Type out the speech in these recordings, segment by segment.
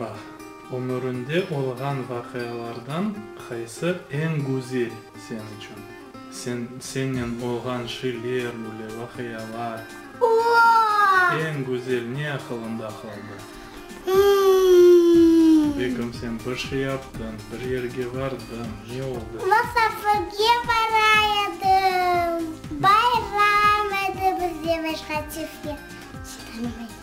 Bax, ömürinde olğan vaqialardan qaysı eñ güzel sen içün? Sen, sennen olğan şiler, bule, vaqialar. Eñ güzel ne aqılında qaldı? Begim, sen bir şey yaptıñ, bir yerge vardıñ, ne oldı? Masafirge bara edim. Bayram edi, biz demek, Hatifke hiç tanımay.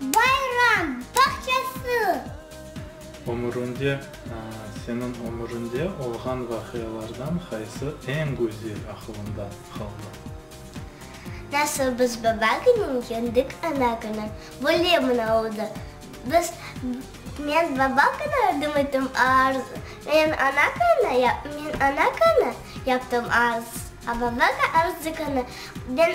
Bayram bağçası. Ömüründe, seniñ ömüründe olğan vaqialardan qaysı eñ güzel aqılında qaldı? Nasıl biz baba günün yendik ana günü böyle mına oldı. Biz, men baba günü ördüm etim arz, men ana günü ya, men ana günü yaptım arz, a babaga arz degeni, ben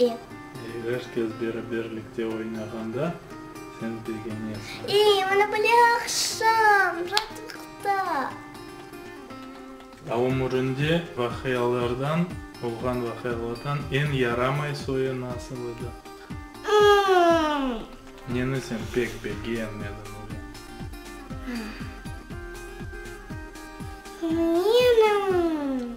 Ey. Ey, er kes beraberlikte oynağanda sen begenesiñ. Ey, mana böyle aqşam, raatlıqta. A ömürinde vaqialardan, olğan vaqialardan eñ yaramay soyu nasıl edi? Imm. Neni sen pek begenmediñ öyle? Menim.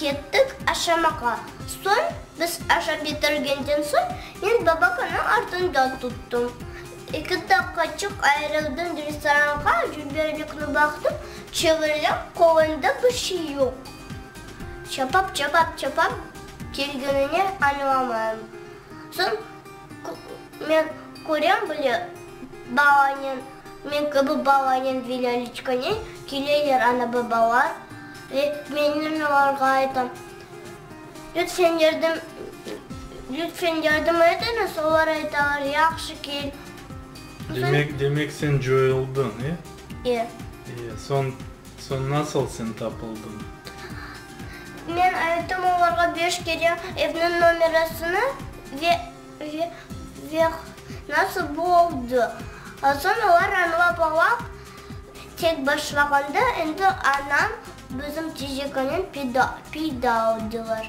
Kettik aşamağa. Soñ, biz aşap bitirgenden soñ, men babakanı artında tuttum. Eki daqıqaçıq ayırıldım, restoranğa jüberlikni baqtım, çevirlem, qolunda bir şey yoq. Çapap-çapap-çapap kelgenine añlamayım. Soñ. Men körem bile, balanen, men kibi balanen ve Lâliçkanen keleyler ana-babalar ve mennen olarğa aytam, Lütfen yardım, lütfen yardım etiñiz, olar aytalar, Yahşı, kel. Demek, demek sen coyuldıñ, e? E. E, soñ, soñ nasıl sen tapıldıñ? Men ayttım olarğa beş kere evniñ nomerasını ve ve nasıl bu oldı. Soñ olar añlap ala, tek başlağanda endi anam bizim tejekenen peyda peyda oldılar.